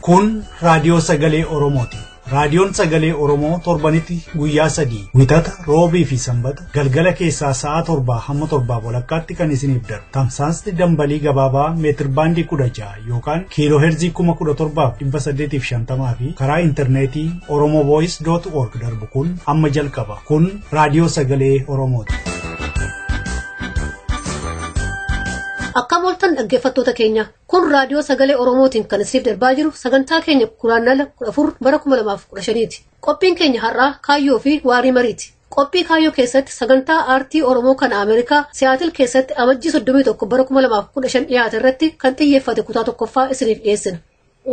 Kun raadiyoo sagalee Oromooti. Raadiyoon sagalee Oromoo torbanitti guyyaa sadii wixata roobii fi sanbata galgala keessaa sa'a torbaa hamma torbaa walakkaatti kan isiniif darbu. Tamsaasni dambalii gabaabaa meetirbaandii kudha ja'a yookaan kiiloo heerzii 17,850 fi karaa intarneetii oromovoice.org darbu kun amma jalqaba. Kun raadiyoo sagalee Oromooti. Akka mooltan dhaggeeffattoota keenya kun raadiyoo sagalee Oromootiin kan isiniif darbaa jiru sagantaa keenya guraandhala 14 bara 2015ti. Qophiin keenya har'aa kaayyoo fi waarii mariiti. Qophii kaayyoo keessatti sagantaa aartii Oromoo kan Ameerikaa Siyaatil keessatti amajjii 31 bara 2015 dhiyaate irratti kan xiyyeeffate kutaa tokkoffaa isiniif dhiyeessina.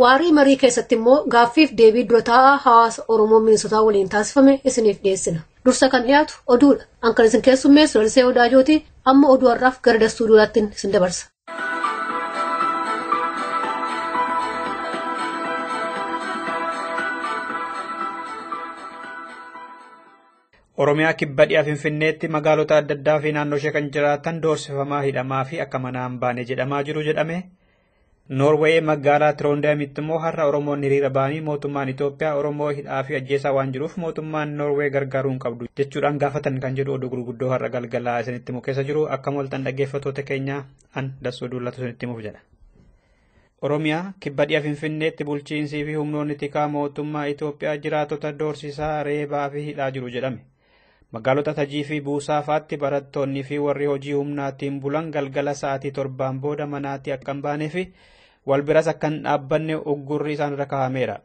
Waarii marii keessatti immoo gaaffiif deebii dura taa'aa hawaasa Oromoo Minnesotaa waliin taasifame isiniif dhiyeessina. Dursa kan dhiyaatu oduudha. An kan isin keessummeessu Lalisee Odaajooti amma oduu har'aaf gara dastuudiyoodhaattiin isin dabarsa. Oromiyaa kibba dhiha Finfinneetti magaalota adda addaa fi naannoo ishee kan jiraatan doorsifamaa hidhamaa fi akka manaan baane jedhamaa jiru jedhame. Noorweey magaalaa Tiroondaamitti immoo har'a Oromoon hiriira ba'anii mootummaan Itoophiyaa Oromoo hidhaa fi ajjeesaa waan jiruuf mootummaan Noorweey gargaaruu hin qabdu jechuudhaan gaafatan kan jedhu oduu gurguddoo har'a galgala isinitti himu keessa jiru akkam ooltan dhaggeeffattoota keenya an dassuu duullatu isinitti himuuf jedha. Oromiyaa kibba dhiha Finfinneetti bulchiinsii fi humnoonni tikaa mootummaa Itoophiyaa jiraatota doorsisaa reebaa fi hidhaa jiru jedhame. Magaalota Tajii fi Buusaa fa'aatti barattoonnii fi warri hojii humnaatiin bulan galgala sa'aatii torbaan booda manaatti akka hin baanee fi wal biras akka hin dhaabbanne uggurri isaanirra kaa'ameera.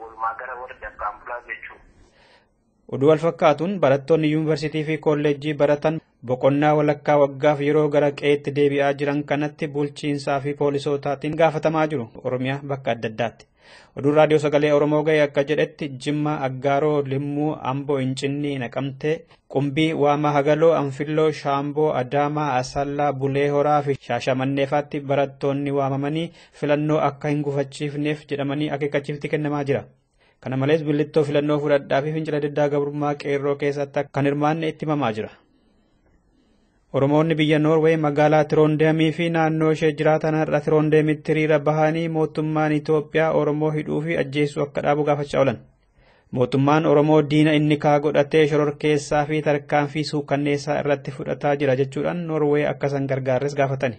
Walumaa gala warri dafqaan bulaa jechuudha. Oduu wal fakkaatuun barattoonni yuunivarsiitii fi kolleejjii baratan boqonnaa walakkaa waggaaf yeroo gara qe'eetti deebi'aa jiran kanatti bulchiinsaa fi poolisootaatiin gaafatamaa jiru Oromiyaa bakka adda addaatti. Oduun raadiyoo sagalee Oromoo ga'e akka jedhetti Jimmaa, Aggaaroo, Limmuu, Amboo, Incinnii, Naqamtee, Qumbii, Waamaa Hagaloo, Anfilloo, Shaamboo, Adaamaa, Asallaa, Bulee Horaa fi Shaashamanneefaatti barattoonni waamamanii filannoo akka hin gufachiifneef jedhamanii akeekkachiifti kennamaa jira. Kana malees billittoo filannoo fudhadhaa fi fincila diddaa gabrummaa qeerroo keessatti kan hirmaanne itti himamaa jira. Oromoonni biyya Noorwee magaalaa Tiroondeemii fi naannoo ishee jiraatan har'a Tiroondeemitti hiriira bahanii mootummaan Itoophiyaa Oromoo hidhuu fi ajjeesuu akka dhaabu gaafachaa oolan. Mootummaan Oromoo diina inni kaa godhatee shororkeessaa fi tarkaanfii suukanneessaa irratti fudhataa jira jechuudhaan Noorwee akka isaan gargaarres gaafatani.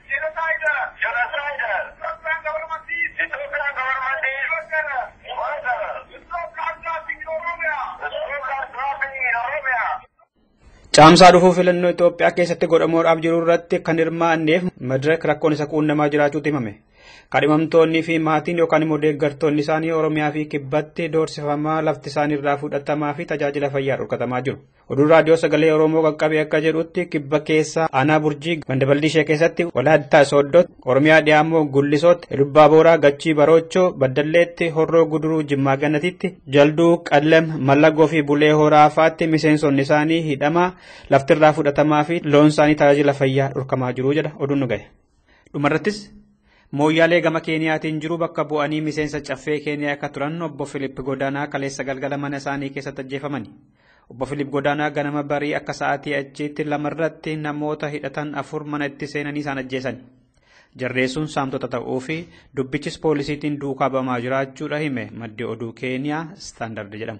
Caamsaa dhufuu filannoo Itoophiyaa keessatti godhamuudhaaf jiru irratti kan hirmaanneef madirak rakkoon isa quunnamaa jiraachuutu himame. Kadhimamtoonnii fi maatiin yookaan immoo deeggartoonni isaanii Oromiyaa fi kibbatti doorsifamaa lafti isaanii irraa fudhatamaa fi tajaajila fayyaa dhorkatamaa jiru. Oduun raadiyoo sagalee Oromoo qaqqabe akka jedhutti kibba keessa aanaa burjii ganda baldiishee keessatti walaayittaa sooddootti Oromiyaa dhiyaamoo gullisootti elubbaa booraa gachii baroochoo baddalleetti horroo guduruu jimmaa ganatitti jalduu qallem mallagoo fi bulee horaa faatti miseensonni isaanii hidhamaa laftirraa fudhatamaa fi loon isaanii tajaajila fayyaa dhorkamaa jiru jedha oduun nu gahe. Dhumarrattis Mooyyaalee gama Keeniyaatiin jiru bakka bu'anii miseensa caffee Keeniyaa akka turan obbo Filiip Godaanaa kaleessa galgala mana isaanii keessatti ajjeefamani. Obbo Filiip Godaanaa ganama barii akka sa'aatii achiitti lamarratti namoota hidhatan afur mana itti seenanii isaan ajjeesani. Jarreessuun saamtota ta'uu fi dubbichis poolisiitiin duukaa bamaa jiraachuudha hime maddi oduu Keeniyaa Standard jedhamu.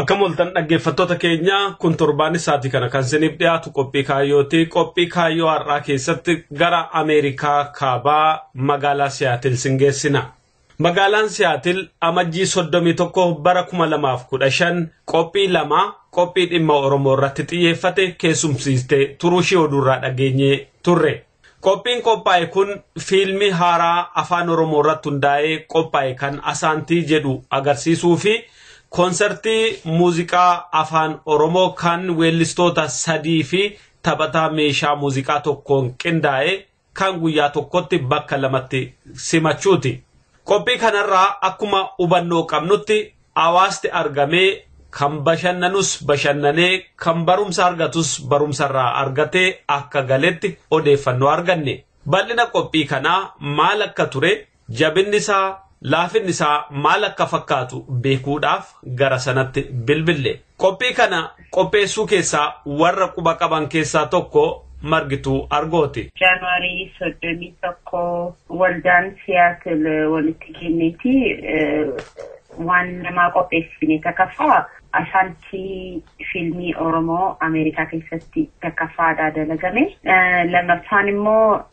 Akkam oltan dhaggeeffattoota keenya kun torbaanni sa'aatii kana kan isiniif dhiyaatu qophii kaayyooti. Qophii kaayyoo har'aa keessatti gara Ameerikaa kaabaa magaalaa Siyaatil sin geessina. Magaalaan Siyaatil amajjii 31 bara 2015 qophii lama qophii dhimma Oromoo irratti xiyyeeffate keessumsiistee turuushii oduurraa dhageenye turre. Qophiin qophaa'e kun fiilmii haaraa Afaan Oromoo irratti hundaa'ee qophaa'e kan Asaantii jedhu agarsiisuu fi koonsartii muuziqaa Afaan Oromoo kan weellistoota sadii fi taphataa meeshaa muuziqaa tokkoon qindaa'e kan guyyaa tokkotti bakka lamatti simachuuti. Qophii kanarraa akkuma hubannoo qabnutti Hawaasti argamee kan bashannanus bashannanee kan barumsa argatus barumsarraa argatee akka galetti odeeffannoo arganne. Bal'ina qophii kanaa maal akka ture, jabinni isaa, laafinni isaa maal akka fakkaatu beekuudhaaf gara sanatti bilbille. Qophii kana qopheessuu keessaa warra quba qaban keessaa tokko Margituu Argooti. January 31 waldaan Siyaatil walitti kenneeti waan namaa qopheessine takaffaa Ashaantii fiilmii Oromoo Ameerikaa keessatti takaffaadha dalagame. Lammaffaan immoo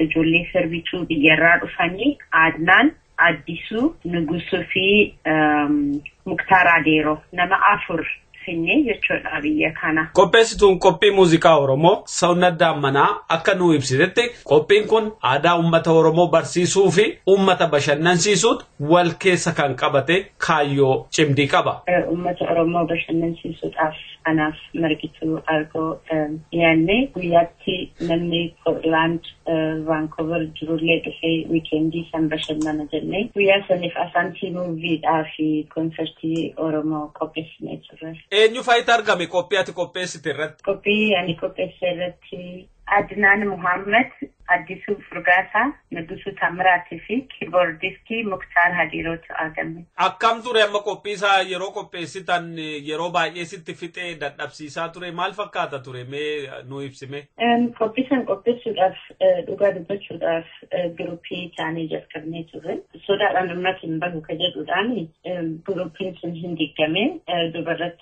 ijoollee sirbituu biyyarraa dhufanii Aadnaan Addisu Nugusu fi Muktaar Adeeroo nama afur finnee jechuudha biyya kana. Qopheessituun qophii muuziqaa Oromoo Sawunnat Daammanaa akka nuu ibsitetti qophiin kun aadaa uummata Oromoo barsiisuu fi uummata bashannansiisuut wal keessa kan qabate kaayyoo cimdii qaba. Uummata Oromoo bashannansiisuudhaaf anaaf margituu argoo dhiyaannee guyyaatti Achitti namni Portland, Vancouver jirullee dhufee wiikeendii san bashannana jennee guyyaa saniif Asaantii muuviidhaa fi konsertii Oromoo qopheessinee turre. Eenyu fa'itu argame qophii ati qopheessite irratti? Qophii ani qopheesse irratti Adnaan Muhammad, Addisuu Furgaasaa, Nigusuu Taammiraat fi kiiboordistii Muktaar Hadiirootu argame. Akkam ture amma qophii isaa yeroo qopheessitan yeroo baay'ee sitti fixee dadhabsiisaa ture maal fakkaata ture mee nuu ibsi mee. Qophii san qopheessuudhaaf dhugaa dubbachuudhaaf giruuppii taanee jalqabnee turre. Sodaadhaan ummati hin bahu ka jedhuudhaan giruuppiin sun hin diiggame duubarratti.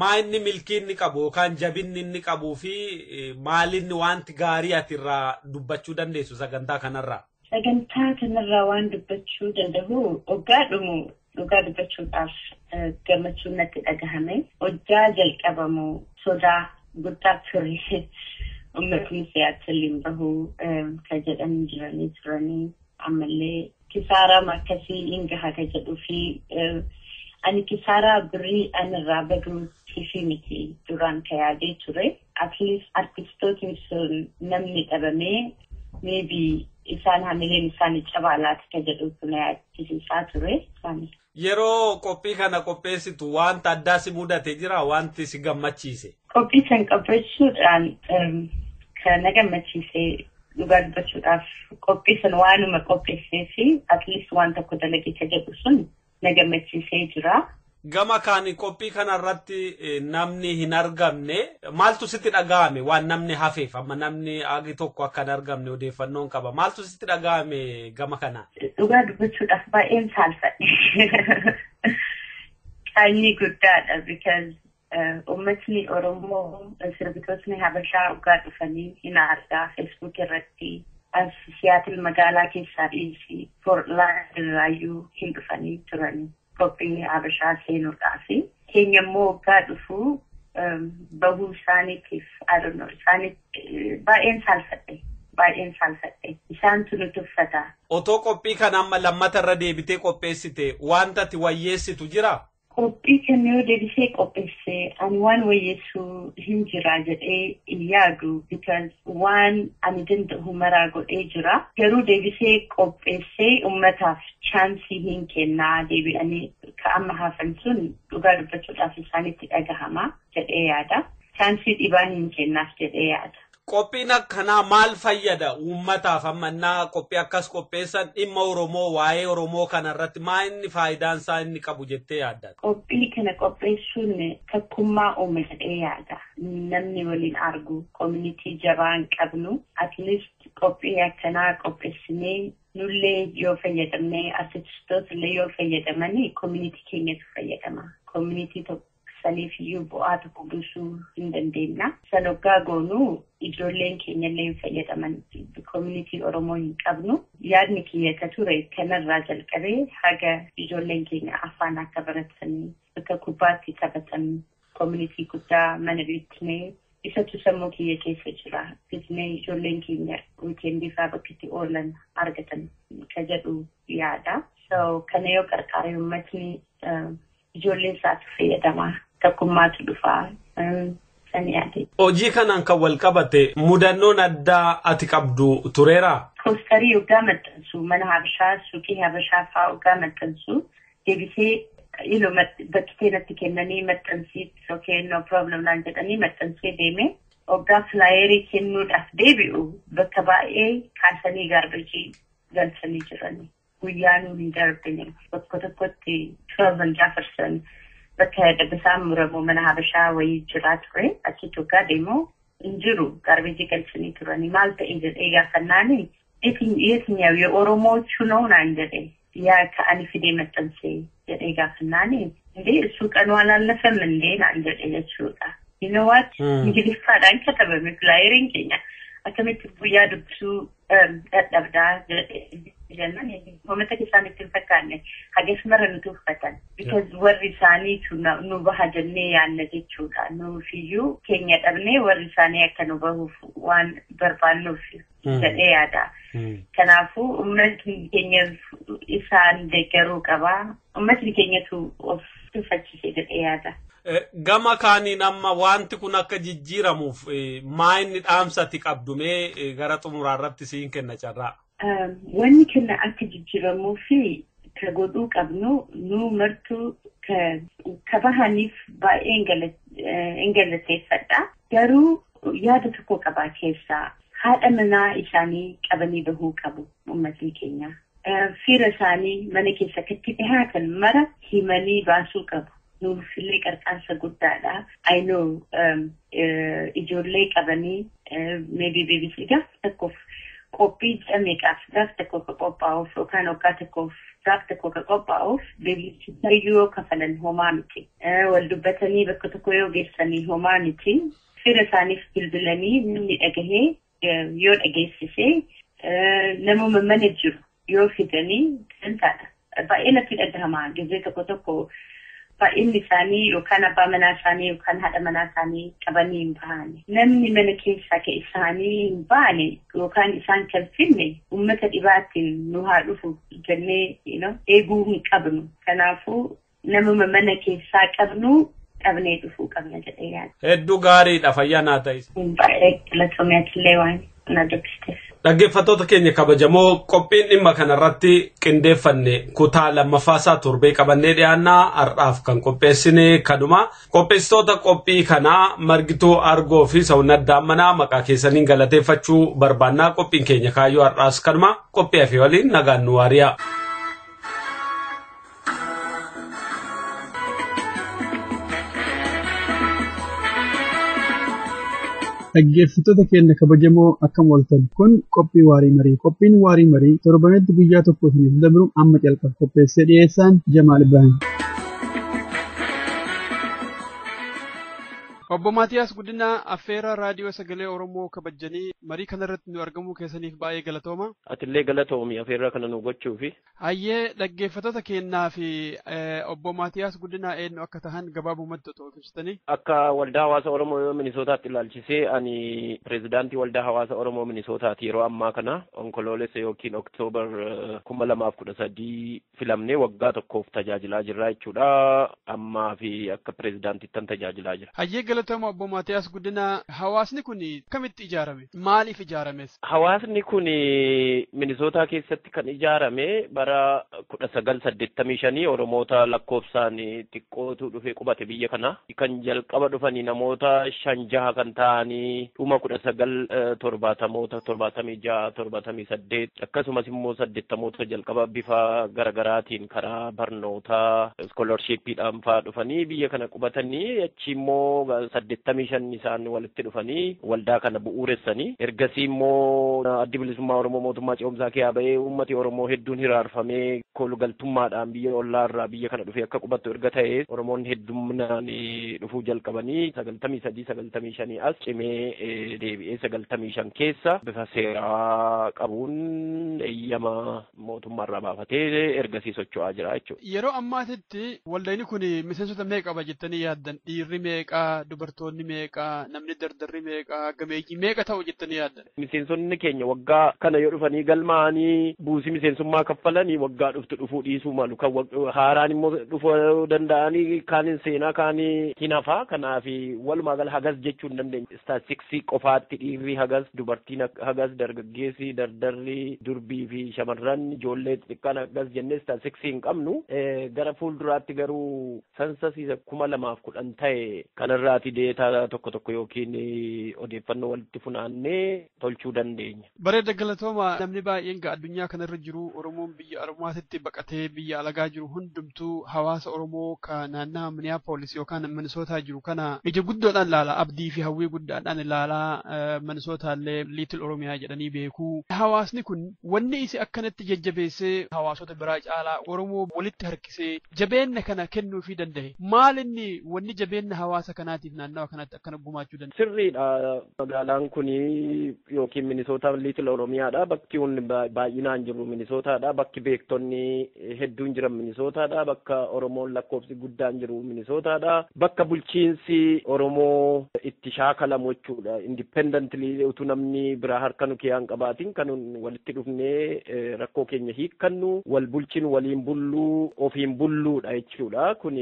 maa inni milkii inni qabu yookaan jabinni inni qabuu fi maalinni wanti gaarii ati irraa dubbachuu dandeessu sagantaa kanarraa? Sagantaa kanarraa waan dubbachuu danda'u oggaa dhumu dhugaa dubbachuudhaaf gammachuun natti dhagahame. Hojjaa jalqabamu sodaa guddaa ture. Uummatni siyaachillee hin bahu kan jedhan jiranii turanii ammallee Kisaaraam akkasii in gaha ka jedhuu fi ani kisaaraa birrii an irraa baduu tiifii miti duraan ka yaadee ture at least artistootni sun namni dhabamee maybe isaan hamileen isaani cabaa laata ka jedhuutu na yaachisiisaa ture. Yeroo qophii kana qopheessitu wanta addaa si mudate jira wanti si gammachiise. Qophii kan qopheessuudhaan kan na gammachiise dhugaa dubbachuudhaaf qophii sun waanuma qopheessee fi at least waan tokko dalagee ka jedhu sun na gammachiisee jira. Gama kaan qophii kanarratti namni hin argamne maaltu sitti dhaga'ame waan namni hafeef amma namni agi tokko akka hin argamne odeeffannoon qaba maaltu sitti dhaga'ame gama kanaan. Dhugaa dubbachuudhaaf baay'een saalfadhe. Qaanyii guddaadha because uummatni Oromoo sirbitootni Habashaa dhugaa dhufanii hin argaa Facebook irratti as Siyaatil magaalaa keessaa dhiisii Portland irraayyuu hin dhufanii turanii. qophii Habashaa seenuudhaaf keenya immoo waggaa dhufu bahuu isaaniitiif I don't know isaaniif baay'een saalfadhe baay'een saalfadhe isaantu nu tuffata. Otoo qophii kana amma lammata irra deebitee qopheessite wanta ati wayyeessitu jira? Qophii kana yoo deebisee qopheesse ani waan wayyeessu hin jira jedhee hin yaadu because waan ani danda'u maraa godhee jira garuu deebisee qopheessee ummataaf chaansii hin kennaa deebi'anii ka amma hafan sun dhugaa dubbachuudhaaf isaanitti dhagahama jedhee yaada. Chaansii dhibaan hin kennaaf jedhee yaada. Qophiin akkanaa maal fayyada uummataaf amma innaa qophii akkas qopheessan dhimma Oromoo waa'ee Oromoo kana irratti maa inni faayidaan isaa inni qabu jettee yaadda? Qophii kana qopheessuun takkummaa uuma jedhee yaada. Namni waliin argu community jabaa hin qabnu. At least qophii akkanaa qopheessinee Nullee yoo fayyadamne artististoota illee yoo fayyadamani community keenyatu fayyadama. Community tokko saniif iyyuu bu'aa tokko buusuu hin dandeenna. San oggaa goonu ijoolleen keenya illee hin fayyadaman. Community Oromoo hin qabnu. Yaadni kiyya ka ture kanarraa jalqabee haga ijoolleen keenya afaan akka baratanii bakka kubbaatti taphatan Community guddaa mana beeknee isatu sammuu kiyya keessa jira bitnee ijoolleen keenya weekend isaa bakka itti oolan argatan ka jedhu yaada. So kana yoo qarqaaree uummatni ijoolleen isaatu fayyadamaa tokkummaatu dhufaa san yaade. Hojii kanaan kan wal qabate mudannoon addaa ati qabdu tureeraa? Poostarii oggaa maxxansu mana habashaa suuqii habashaa fa'aa oggaa maxxansu Debisee ilo bakkitee natti kennanii maxxansii okay no problem naan jedhanii maxxansee deemee oggaa filaayerii kennuudhaaf deebi'u bakka baay'ee kaasanii gaarbajii galchanii jiranii guyyaa nuun hin darbine bakka tokkotti Kelvin Jefferson bakka dabbasaan muramu mana habashaa wayii jiraa ture achitti oggaa deemu hin jiru gaarbajii galchanii turanii maal ta'e jedhee gaafannaani Yetinyaw ye'oromoochu no naan jedhe yaa ka ani fidee maxxanse jedhee gaafannaani indee issuu qanuu alaalafem indee naan jedhe jechuudha you know what ingiliffaadhaan katabame filaayeriin keenya akkamitti guyyaa dubbisuu dadhabdaa jedhe jennaan hoomataka isaanitti hin fakkaanne hagas mara nu tuuffatan because warri isaaniitu nu baha jennee yaanna jechuudha nuufiyyuu keenya dhabnee warri isaanii akka nu bahuuf waan barbaannuuf jedhee yaada. Kanaafuu uummatni keenya isaan deeggaruu qaba. Uummatni keenyatu of tuffachise jedhee yaada. Gama kaaniin amma wanti kun akka jijjiiramuuf maa inni dhaamsati qabdu mee gara xumuraa irratti siin kenna carraa. Wanni kenna akka jijjiiramuu fi ka godhuu qabnu nu martuu ka bahaniif baay'ee hin galateeffadha. Garuu yaada tokkoo qabaa keessaa haadha manaa isaanii qabanii bahuu qabu ummatni keenyaa. Fira isaanii mana keessa akka itti dhihaatan mara himanii baasuu qabu. Nuuf illee qarqaarsa guddaadha. I know ijoollee qabanii maybe BBC gaaf tokkoof qophii ji'a meeqaaf gaaf tokko ka qophaa'uuf yookaan waggaa tokkoof gaaf tokko ka qophaa'uuf debiichisayyuu yoo kafalan homaa miti. Wal dubbatanii bakka tokko yoo geessanii homaa miti. Fira isaaniif bilbilanii namni dhagahee yoo dhageessise namuma mana jiru yoo fidanii dantaadha. Baay'ee natti dhagahama gizee tokko tokko Baay'inni isaanii yookaan abbaa manaa isaanii yookaan haadha manaa isaanii qabanii hin baane. Namni mana keessaa ka isaanii hin baane yookaan isaan ka hin fidne ummata dhibaatiin nu haa dhufu jennee you know, eeguu hin qabnu. Kanaafuu namuma mana keessaa qabnu qabnee dhufuu qabna jedhee yaada. Hedduu gaariidha fayyaa naa ta'is. Baay'ee galatoomi atillee waani. na dubbistes. Dhaggeeffattoota keenya kabajamoo qophiin dhimma kanarratti qindeeffanne kutaa lammaffaasaa torbee qabannee dhiyaannaa har'aaf kan qopheessine kanuma qopheessitoota qophii kanaa margituu argoo fi sawunnaddaan manaa maqaa keessaniin galateeffachuu barbaannaa qophiin keenya kaayyoo har'aas kanuma qophii afee waliin nagaan nu waariyaa. Dhaggeeffattoota keenya kabajamoo akkam ooltan kun qophii waarii marii qophiin waarii marii torbanitti guyyaa tokko isiniif dabru amma calqaba qopheessee dhiyeessaan Jamaal Ibrahim. Obbo Maatiyaas Guddinaa affeerraa raadiyoo sagalee Oromoo kabajanii marii kanarratti nu argamuu keessaniif baay'ee galatooma. Atillee galatoomi affeerraa kana nu gochuufi. Hayyee dhaggeeffattoota keennaa fi obbo Maatiyaas Guddinaa eenyu akka tahan gabaabumatti otoo of ibsitanii. Akka waldaa hawaasa Oromoo Minisootaatti ilaalchisee ani pirezidaantii waldaa hawaasa Oromoo Minisootaati yeroo ammaa kana onkoloolessa yookiin oktoobar kuma lamaaf kudha sadii filamnee waggaa tokkoof tajaajilaa jirra jechuudha. Ammaa fi akka pirezidaantittan tajaajilaa jira. Hayyee galatooma obbo Maatiyaas Guddinaa hawaasni kun akkamitti ijaarame? Maaliif ijaarames? Hawaasni kun Minisootaa keessatti kan ijaarame bara 1985 Oromoota lakkoofsaan xiqqootu dhufee qubate biyya kana. Kan jalqaba dhufani namoota shan jaha kan ta'ani dhuma 1970moota 76, 78 akkasumas immoo 80moota jalqaba bifa garagaraatiin karaa barnootaa iskoolarshippiidhaan faa dhufanii biyya kana qubatanii achi immoo 85 isaan walitti itti dhufanii waldaa kana bu'uuressani. Ergasii immoo Addi Bilisummaa Oromoo mootummaa ce'umsaa keeyaa ba'ee uummati Oromoo hedduun hiraarfamee koolugaltummaadhaan biyya ollaa irraa biyya kana dhufee akka qubattu erga ta'ee Oromoonni hedduminaan dhufuu jalqabanii 93, 95 as cimee deebi'ee 95 keessa bifa seeraa qabuun eeyyama mootummaa irraa baafatee ergasii socho'aa jira jechuudha. Yeroo ammaatitti waldayni kun miseensota meeqa qaba jettanii yaaddan? Dhiirri meeqa, dubartoonni meeqa, namni dardarri meeqa, gameeyyii meeqa ta'u jettanii yaaddan? Miseensonni keenya waggaa kana yoo dhufanii galmaa'anii buusii miseensummaa kaffalanii waggaa dhuftu dhufuu dhiisuu malu. Kan haaraan immoo dhufuu danda'anii kaan hin seenaa kaan hin hafaa. Kanaaf walumaa gala hagas jechuu hin dandeenyu. Istaatistiksii qofaatti dhiirri hagas, dubartiin hagas, dargaggeessi, dardarri, durbii fi shamarran, ijoollee xixiqqaan akkas jennee istaatistiksii hin qabnu. Gara fuulduraatti garuu sansas isa 2010 ta'e kanarraati deetaa tokko tokko yookiin odeeffannoo walitti funaannee tolchuu dandeenya. Bareeda galatooma namni baay'een gaa addunyaa kana irra jiru Oromoon biyya Oromaatitti baqatee biyya alagaa jiru hundumtuu hawaasa Oromoo ka naannaa Minneapolis yookaan Minnesota jiru kana ija guddoodhaan ilaala abdii fi hawwii guddaadhaan ilaalaa Minnesota illee Little Oromiyaa jedhanii beeku. Hawaasni kun wanni isi akkanatti jajjabeessee hawaasota biraa caalaa Oromoo walitti harkisee jabeenna kana kennuufii danda'e maal inni wanni jabeenna hawaasa kanaatiif naannawa kanatti kana gumaachuu danda'a. Sirriidha magaalaan kun yookiin Minisootaan Liitil Oromiyaadha. Bakki hundi baay'inaan jiru Minisootaadha. Bakki beektonni hedduun jiran Minisootaadha. Bakka Oromoon lakkoofsi guddaan jiru Minisootaadha. Bakka bulchiinsi Oromoo itti shaakalamu jechuudha. Independently utuu namni biraa harka nu keessaa hin qabaatin kan walitti dhufnee rakkoo keenya hiikkannu wal bulchinu waliin bullu ofiin bulluudha jechuudha. Kun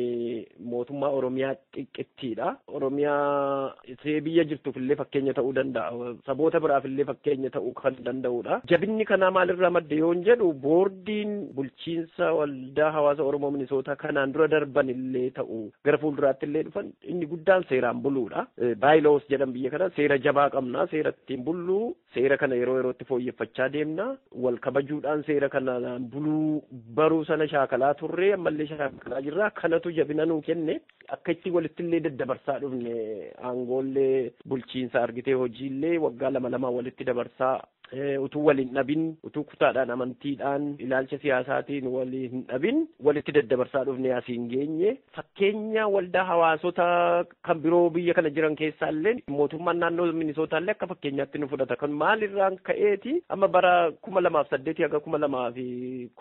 mootummaa Oromiyaa xiqqittiidha. Oromiyaa ishee biyya jirtuuf illee fakkeenya ta'uu danda'a. Saboota biraaf illee fakkeenya ta'uu kan danda'udha. Jabinni kanaa maalirraa madde yoon jedhu boordiin bulchiinsa waldaa hawaasa Oromoo Minisootaa kanaan dura darban illee ta'u gara fuulduraatti illee dhufan inni guddaan seeraan buluudha. Baayiloos jedhan biyya kana seera jabaa qabna seera ittiin bullu Seera kana yeroo yerootti fooyyeffachaa deemna. Wal kabajuudhaan seera kanaan buluu baruu sana shaakalaa turre ammallee shaakalaa jirra. Kanatu jabina nuu kenne. Akka itti walitti illee daddabarsaa dhufne aangoollee bulchiinsa argitee hojiillee waggaa lama lamaan walitti dabarsaa utuu wal hin dhabin utuu kutaadhaan amantiidhaan ilaalcha siyaasaatiin wal hin dhabin walitti daddabarsaa dhufne asiin geenye. Fakkeenya waldaa hawaasota kan biroo biyya kana jiran keessaa illee mootummaan naannoo Minisootaa illee akka fakkeenyaatti nu fudhata. Kan maalirraan ka'eeti amma bara kuma lamaaf saddeetii haga kuma lamaa fi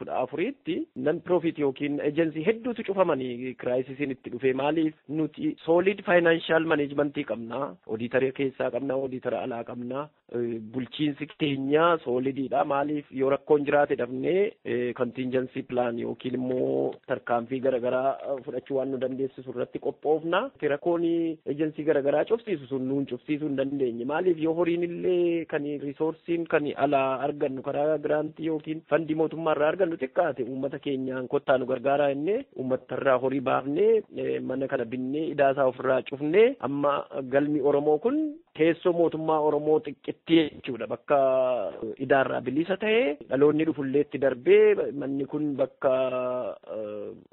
kudha afuriitti nan piroofiit yookiin eejensii hedduutu cufamanii kiraayisisiin itti dhufee maaliif nuti soolid faayinaanshaal maneejmentii qabna. Odiitara keessaa qabna, odiitara alaa qabna. bulchiinsi keenya soolidiidha. Maaliif yoo rakkoon jiraate dhabnee kontiinjansii pilaan yookiin immoo tarkaanfii garaagaraa fudhachuu waan nu dandeessisu irratti qophoofna. Rakkoon ejensii garaagaraa cufsiisu sun nuun cufsiisuu hin dandeenye. Maaliif yoo horiin illee kan riisoorsiin kan alaa argannu karaa giraantii yookiin fandii mootummaa irraa argannu xiqqaate uummata keenyaan kottaa nu gargaaraa jennee uummata irraa horii baafnee mana kana binnee idaa isaa ofirraa cufnee amma galmi Oromoo kun Teessoo mootummaa Oromoo xiqqittii jechuudha. Bakka idaarraa bilisa ta'e dhaloonni dhufullee itti darbee manni kun bakka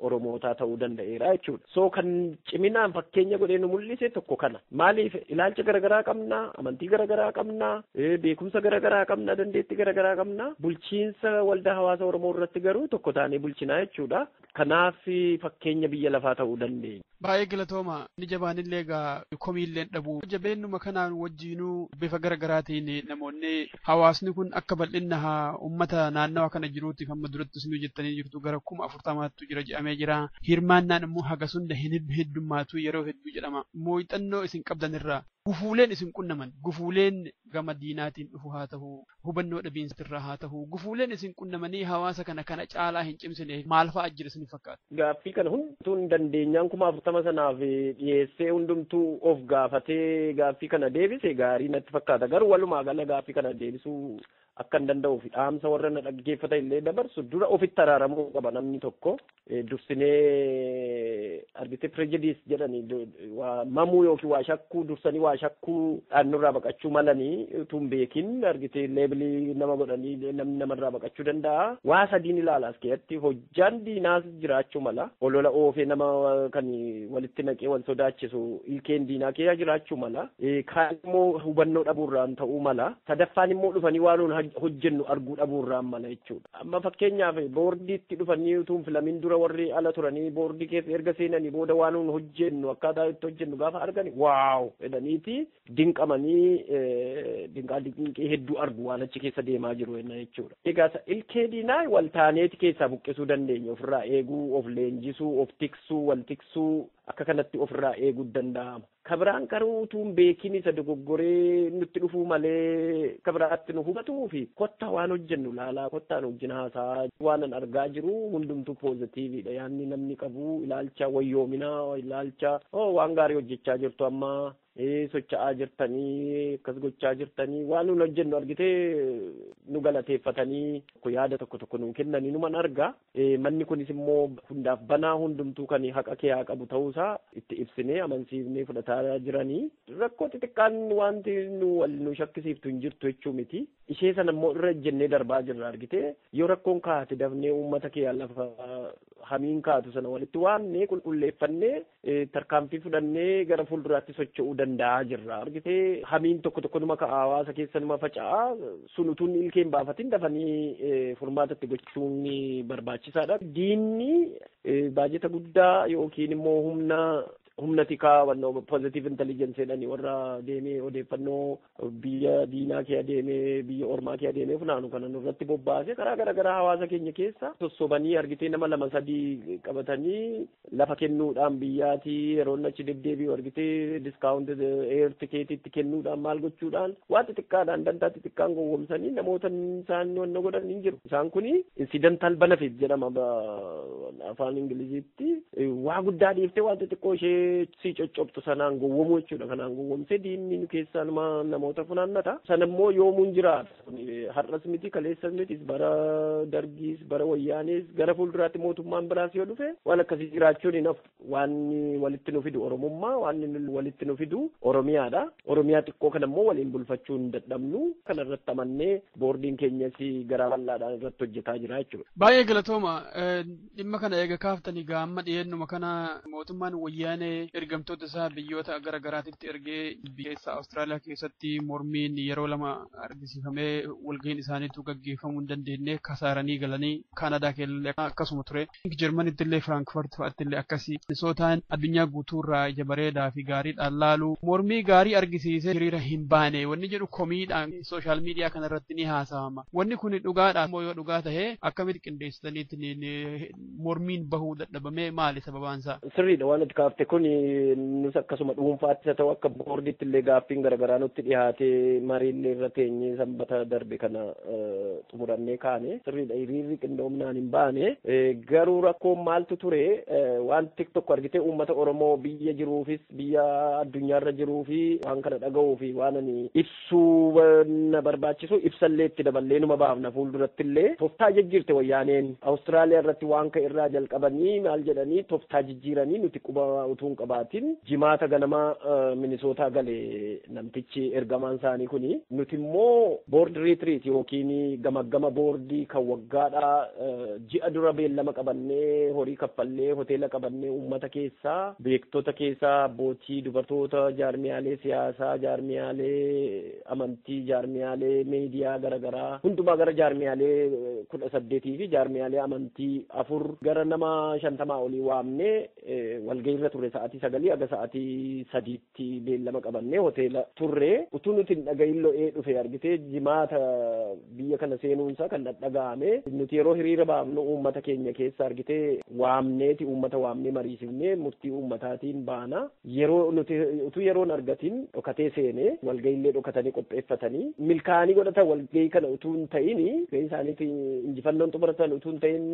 Oromootaa ta'uu danda'eera jechuudha. So kan ciminaan fakkeenya godhee nu mul'ise tokko kana. Maaliif ilaalcha garaagaraa qabna, amantii garaagaraa qabna, beekumsa garaagaraa qabna, dandeettii garaagaraa qabna. Bulchiinsa waldaa hawaasa Oromoo irratti garuu tokko taanee bulchinaa jechuudha. Kanaaf fakkeenya biyya lafaa ta'uu dandeenya. Baay'ee galatooma. Inni jabaanillee egaa komiillee hin dhabu. Jabeennuma kanaan wajjiinuu bifa gara garaatiin namoonni hawaasni kun akka bal'inna uummata naannawa kana jiruutiif amma duratti isinuu jettanii jirtu gara kuma afurtamaattu jira jedhamee jira. Hirmaannaan immoo hagas hunda hin heddummaatu yeroo hedduu jedhama. Muuxannoo isin qabdan irraa gufuuleen isin qunnaman gufuuleen gama diinaatiin dhufu haa ta'u, hubannoo dhabiinsa irraa haa ta'u, gufuuleen isin qunnamanii hawaasa kana kana caalaa hin cimsine maal fa'a jira isin fakkaata? Gaaffii kana hundumtuu hin dandeenyaan kuma afurtama sanaaf dhiyeessee hundumtuu of gaafatee gaaffii kana deebise gaarii natti fakkaata. Garuu walumaa gala gaaffii kana deebisuu akka hin danda'uu fi dhaamsa warra na dhaggeeffata illee dabarsu dura ofitti araaramuu qaba namni tokko. dursinee argitee prejudice jedhani waa mamuu yookiin waa shakkuu dursanii waa shakkuu dhaannurraa baqachuu malanii utuu hin beekin argitee leebilii nama godhanii namni namarraa baqachuu danda'a. Waa sadiin ilaala as keessatti hojjaan diinaas jiraachuu mala olola oofee nama kan walitti naqee wal sodaachisu ilkeen diinaa keessa jiraachuu mala kaan immoo hubannoo dhabuurraan ta'uu mala sadaffaan immoo dhufanii waan hojjennu arguu dhabuurraan mala jechuudha. Amma fakkeenyaaf boordiitti dhufanii utuu hin filamin dura warri ala turanii boordii keessa erga seenanii booda waan nuun hojjennu akkaataa itti hojjennu gaafa argani waaw jedhaniiti dinqamanii dinqaa dinqii hedduu argu waan achi keessa deemaa jiru jenna jechuudha. Egaa ilkee diinaa wal taaneeti keessaa buqqisuu dandeenya ofirraa eeguu of leenjisuu of tiksuu wal tiksuu akka kanatti ofirraa eeguu danda'ama. Ka biraan garuu utuu hin beekin isa dogoggoree nutti dhufuu malee ka biraatti nu hubatuufi kottaa waan hojjennu ilaalaa kottaa nu wajjin haasa'aa waanan argaa jiru hundumtuu poozatiiviidha yaanni namni qabu ilaalcha wayyoominaa ilaalcha oo waan gaarii hojjechaa jirtu amma socha'aa jirtanii akkas gochaa jirtanii waan nun hojjennu argitee nu galateeffatanii yaada tokko tokko nuu kennanii numan argaa. Manni kunis immoo hundaaf banaa hundumtuu kan haqa kee haa qabu ta'uu isaa itti ibsinee amansiifnee fudhataa jirani. Rakkoo xixiqqaan wanti nu wal nu shakkisiiftu hin jirtu jechuu miti. Ishee sana immoo irra ejjennee darbaa jirra argitee yoo rakkoon kaate dafnee uummata kee lafa hamiin kaatu sana walitti waamnee qulqulleeffannee tarkaanfii fudhannee gara fuulduraatti socho'uu danda'aa jirra. Argite hamiin tokko tokko numa ka'a hawaasa keessa numa faca'a. Sun utuu inni ilkee hin baafatin dafanii furmaata itti gochuun barbaachisaadha. Diinni baajeta guddaa yookiin immoo humna humna tikaa wannoo positive intelligence jedhani warra deemee odeeffannoo biyya diinaa kee adeemee biyya ormaa kee adeemee funaanu kana nurratti bobbaasee karaa garaagaraa hawaasa keenya keessa sossobanii argitee nama lama sadii qabatanii lafa kennuudhaan biyyaati yeroon achi deddeebi'u argitee diskaawunt eer tikeetiitti kennuudhaan maal gochuudhaan waan xixiqqaadhaan dantaa xixiqqaan gowwomsanii namoota isaan wanna godhan hin jiru isaan kuni insidantaal banafit jedhama afaan ingiliziitti waa guddaa dhiiftee waan xixiqqoo ishee sii coccobxu sanaan gowwomuu jechuudha kanaan gowwomsee diinni nu keessaa numa namoota funaannata sana immoo yoomuun jiraata Kun, eh, har'as miti kaleessas miti bara dargiis bara wayyaanees gara fuulduraatti mootummaan biraas yoo dhufe waan akkasii jiraachuun hin hafu waan walitti nu fidu oromummaa waan nu- walitti nu fidu oromiyaadha oromiyaa xiqqoo kana immoo waliin bulfachuu hin dadhabnu kana irratti amannee boordiin keenyas garaa bal'aadhaan irratti hojjetaa jira jechuudha. Baay'ee galatooma. Eh, Dhimma kana eega kaaftanii gaa amma dhiyeennuma kana mootummaan wayyaanee ergamtoota isaa biyyoota gara garaatitti ergee biyyeessa Awustiraaliyaa keessatti mormiin yeroo lama argisiifamee walga'iin isaaniitu gaggeeffamuu hin dandeenye kasaaranii galanii Kaanadaa keessallee akkasuma ture. Jarmanitti illee Firaankfurt fa'atti illee akkasii Minisootaan addunyaa guutuurraa ija bareedaa fi gaariidhaan laalu mormii gaarii argisiisee hiriira hin baane wanni jedhu komiidhaan social media kana irratti ni haasawama. Wanni kun dhugaadha immoo yoo dhugaa tahe akkamitti qindeessitaniitti ni- ni- mormiin bahuu dadhabamee maali sababaan isaa? Sirriidha waan nuti kaafte kun nus akkasuma dhuunfaattis haa ta'u akka boordiitti illee gaaffiin garaagaraa nutti dhiyaatee mariin irra teenyee sanbata darbe kana eh, xumurannee kaane sirriidha hiriirri qindoominaan hin baane Eh, garuu rakkoon maaltu ture eh, waan tiktok argitee uummata oromoo biyya jiruufis biyya addunyaarra jiruu fi waan kana dhaga'uu fi waan ani ibsu suuba na barbaachisu ibsallee itti daballee numa baafna fuuldurattillee toftaa jijjiirte wayyaaneen Australia irratti waan ka'e irraa jalqabanii maal jedhanii toftaa jijjiiranii nuti quba utuu hin qabaatiin jimaata ganama Minnesota gale namtichi ergamaan isaanii kuni nuti immoo board retreat yookiin gamaggama boordii kan waggaadhaa Ji'a dura beellama qabannee, horii kaffallee, hoteela qabannee uummata keessa, beektota keessa, abbootii, dubartoota, jaarmiyaalee siyaasaa, jaarmiyaalee amantii, jaarmiyaalee miidiyaa gara garaa hundumaa gara jaarmiyaalee 18 fi jaarmiyaalee amantii 4 gara nama 50 olii waamnee walgahiirra turre sa'aatii 9 haga sa'aatii 3tti. tti beellama qabannee hoteela turre. Utuu nuti hin dhagahin lo'ee dhufe argitee Jimaata biyya kana seenuun isaa kan dhadhaga'ame. Nuti yeroo hiriira baafnu uummata keenya keessa argitee waamneeti uummata waamnee mariisifnee murtii uummataatiin baana. Yeroo nuti utuu yeroo hin argatin dhokatee seene. Walgahii illee dhokatanii qopheeffatanii. Milkaa'anii godhatan walgahii kana utuu hin ta'in gahii isaaniiti injifannoon xumuratan utuu hin ta'in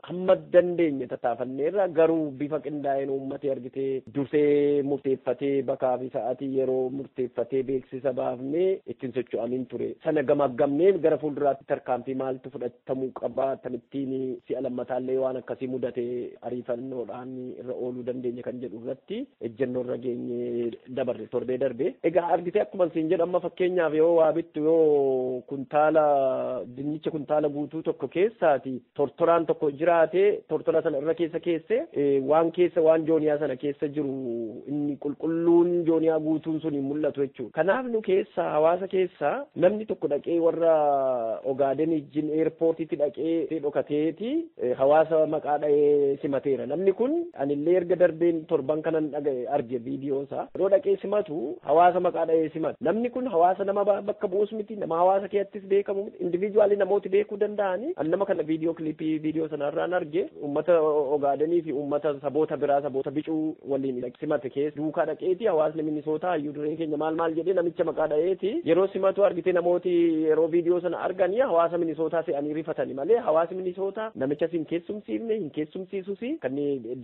hamma dandeenye tattaafanneerra garuu bifa qindaa'een uummati argitee. beeksisitee dursee murteeffatee bakaa fi sa'atii yeroo murteeffatee beeksisa baafnee itti hin socho'amin ture. Sana gamaaggamnee gara fuulduraatti tarkaanfii maaltu fudhatamuu qaba akkamittiin si'a lammataallee waan akkasii mudate ariifannoodhaan irra ooluu dandeenya kan jedhu irratti ejjennoo irra geenyee dabarre torbee darbe. Egaa argitee akkuman siin jedhu amma fakkeenyaaf yoo waa bittu yoo kuntaala dinnicha kuntaala guutuu tokko keessaati tortoraan tokko jiraate tortora sana irra keessa keesse waan keessa waan jooniyaa sana keessa jiru inni qulqulluun jooniyaa guutuun sun hin mul'atu jechuudha. Kanaaf nu keessa hawaasa keessa namni tokko dhaqee warra Ogaaden ijjin eerpoortiitti dhaqee dhokateeti hawaasa maqaa dha'ee simateera. Namni kun anillee erga darbeen torban kanan dhaga'e arge viidiyoo isaa. Yeroo dhaqee simatu hawaasa maqaa dha'ee simata. Namni kun hawaasa nama bakka bu'us miti nama hawaasa keessatti beekamu miti individually namooti beekuu danda'ani an nama kana viidiyoo kilipii viidiyoo sana irraan arge ummata ogaadanii fi ummata saboota biraa saboota bicuu waliin simate keessa duukaa dhaqeeti hawaasni minisootaa hayyuu dureen keenya maal maal jedhee namicha maqaa dha'eeti yeroo simatu argite namooti yeroo viidiyoo sana arganii hawaasa minisootaa se'anii rifatani malee hawaasi minisootaa namicha sin keessumsiifne hin keessumsiisusi kan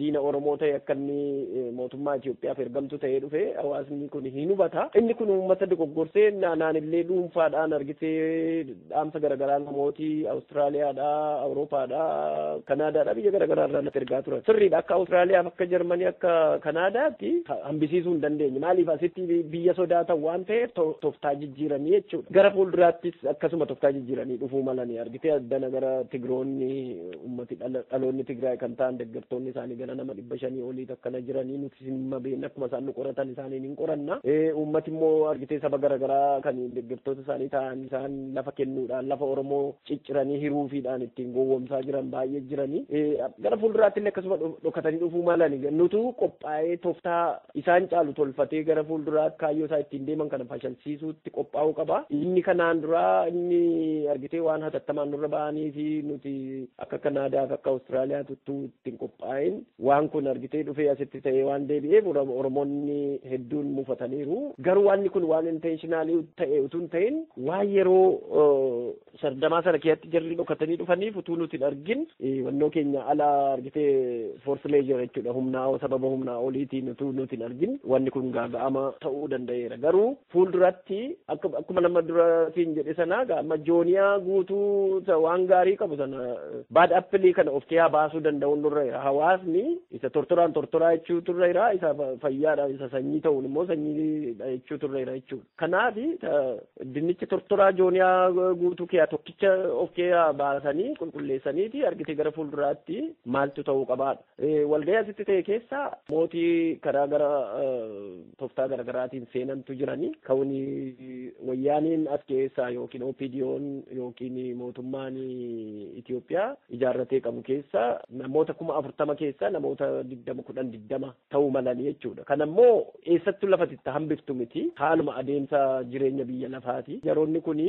diina oromoo ta'e akka inni mootummaa Itoophiyaaf ergamtu ta'ee dhufe hawaasni kun hin hubata. Inni kun uummata dogoggorsee naanillee dhuunfaadhaan argitee dhaamsa garaagaraa namooti Awustiraaliyaadhaa, Awuroopaadhaa, Kanaadaadhaa biyya garaagaraa irraa natti ergaa turan. Sirriidha akka Awustiraaliyaaf akka Jarmanii akka Kanaadaatti hambisiisuu hin dandeenye. Maaliif asitti biyya sodaatan waan ta'eef toftaa jijjiiranii jechuudha. Gara fuulduraattis akkasuma toftaa jijjiiranii dhufuu malanii argitee addana gara Tigiroonni uummati dhaloonni Tigraay kan ta'an deeggartoonni isaanii gara nama dhibba shanii olii akkana jiranii nuti Dhimma beekne akkuma isaan nu qoratan isaaniin hin qoranna. Uummati immoo argitee saba garaagaraa kan deeggartoota isaanii ta'an isaan lafa kennuudhaan lafa Oromoo cicciranii hiruufiidhaan ittiin gowwoomsaa jiran baay'ee jirani. Gara fuulduraatti illee akkasuma dhokatanii dhufuu malani. Nutu qophaa'ee tooftaa isaan caalu tolfatee gara fuulduraatti kaayyoo isaa ittiin deeman kana fashalsiisuutti qophaa'uu qaba. Inni kanaan duraa inni argitee waan hatattamaan nurra ba'anii fi nuti akka Kanaadaa fi akka Awustiraaliyaa tuttuu ittiin qophaa'in Waan kun argitee dhufee asitti ta'ee waan deebi'eef Oromoonni hedduun mufataniiru. Garuu waanni kun waan intentionally ta'e utuu hin ta'in waan yeroo sardamaa sana keessatti jarri dhokatanii dhufaniif utuu nuti hin argin wannoo keenya ala argitee force measure jechuudha humnaa sababa humnaa oliitiin utuu nuti hin argin wanni kun gaaga'ama ta'uu danda'eera. Garuu Fuulduratti akka akkuma nama dura siin jedhe sanaa gaa amma jooniyaa guutuu isa waan gaarii qabu sana baad appilii kana of keessaa baasuu danda'uun nurra jira. Hawaasni isa tortoraan tortoraa jechuu turre jira isa fayyaadha isa sanyii ta'uun immoo sanyiidha jechuu turre jira jechuudha. Kanaaf dinnicha tortoraa jooniyaa guutuu keessaa tokkicha of keessaa baasanii qulqulleessaniiti argitee gara fuulduraatti maaltu ta'uu qabaadha. Walga'ii asitti ta'e keessa mootii karaa gara toftaa garagaraatiin seenantu jirani. Ka'uun wayyaaneen as keessaa yookiin OPDOn yookiin mootummaan Itoophiyaa ijaarratee qabu keessa namoota kuma afurtama keessa namoota digdama kudhan digdama ta'uu malani jechuudha. Kanammoo Eessattu lafati itti hambiftu miti. Haaluma adeemsa jireenya biyya lafaati. Jaroonni kun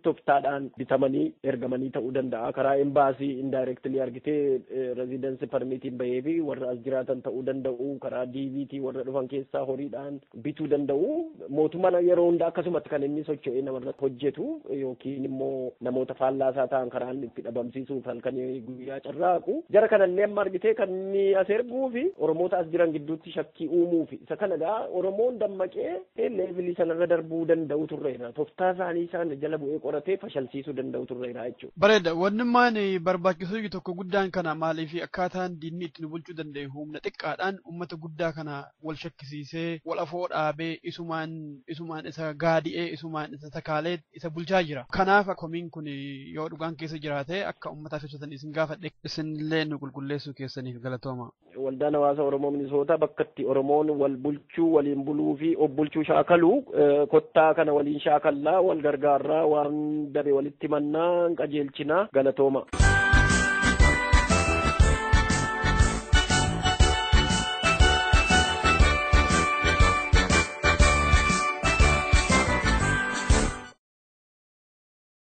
toftaadhaan bitamanii ergamanii ta'uu danda'a. Karaa embaasii indirectly argitee residence permit baheefi warra as jiraatan ta'uu danda'u. Karaa DV tiin warra dhufan keessaa horiidhaan bituu danda'u. Mootummaan yeroo hunda akkasumatti kan inni socho'ee namarratti hojjetu yookiin immoo namoota faallaa isaa ta'an karaa inni itti dhabamsiisuuf halkanii guyyaa carraaqu. Jara kanallee amma argitee kan inni as erguufi Oromoota as jiran gidduutti shakkii uumuufi. Isa kana egaa Oromoon dammaqee leevilii sanarra darbuu danda'u turreera. Toftaa isaanii sana jala bu'ee qoratee fashalsiisuu danda'u turreera jechuudha. Bareeda. Wannummaan barbaachisuyyu tokko guddaan kana maaliifi akkaataan diinni itti nu bulchuu danda'e humna xiqqaadhaan ummata guddaa kana wal shakkisiisee, wal afoo dhaabee, isumaan isumaan isa gaadi'ee, isumaan isa takaalee isa bulchaa jira. Kanaaf komiin kun yoo dhugaan keessa jiraate akka ummataa ibsatan isin gaafadhe. Isinillee nu qulqulleessuu keessaniif galatoomaa. Waldaan Hawaasa Oromoo Minisootaa bakka itti Oromoon wal bulchuu, waliin buluu fi of bulchuu shaakalu kottaa kana waliin shaakallaa, wal gargaarraa, waan dabe walitti mannaa, qajeelchinaa, galatooma.